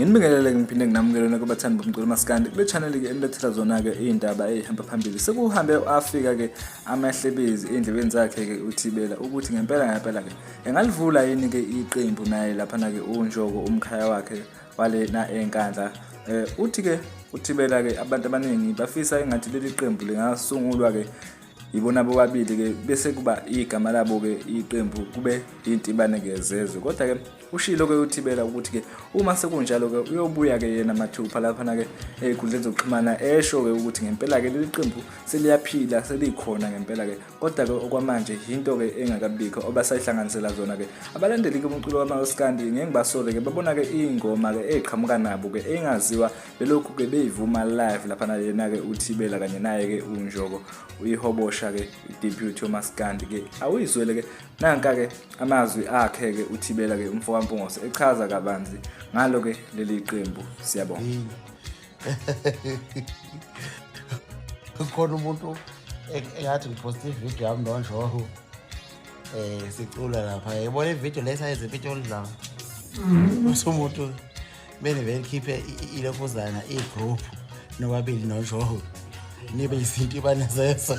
nginibingelele ngiphinde nginamukelona kubathandi bomculo masikandi kule channel ke enilethela zona-ke iy'ndaba ey'hamba phambili sekuhambe afika-ke amahlebezi ey'ndlebeni zakhe-ke uthibela ukuthi ngempela ngempela-ke engalivula yini-ke iqembu naye laphana-ke unjoko umkhaya wakhe walena eNkandla eh uthi ke uthibela ke abantu abaningi bafisa engathi leli qembu lingasungulwa ke yibona bobabili ke bese kuba igama labo ke iqembu kube intibane ke zezwe kodwa ke ushilo ke uthibela ukuthi ke uma sekunjalo ke uyobuya ke yena mathupha lapha na ke ezikhundleni zokuxhumana esho ke ukuthi ngempela ke leli qembu seliyaphila selikhona ngempela ke kodwa-ke okwamanje yinto-ke engakabikho obasayihlanganisela zona-ke abalandeli-ke umculo wamaskandi ngeke ngibasole-ke babona-ke iy'ngoma-ke ey'qhamuka nabo-ke engaziwa belokhu-ke beyivuma live laphana yena-ke uthibela kanye naye-ke unjoko uyihobosha-ke i-deputy yomaskandi-ke awuyizwele-ke nanka-ke amazwi akhe-ke uthibela-ke umfokampungose echaza kabanzi ngalo-ke leli qembu siyabonga khona umuntu engathi ngiphosta ividiyo yami nonjoho um eh, sicula lapha yibona ividiyo le sayenza impitho oludlanga bese mhm. umuntu bene belikhiphe ilokuzana i-group nobabili nonjoho nibe izinto ibane zeso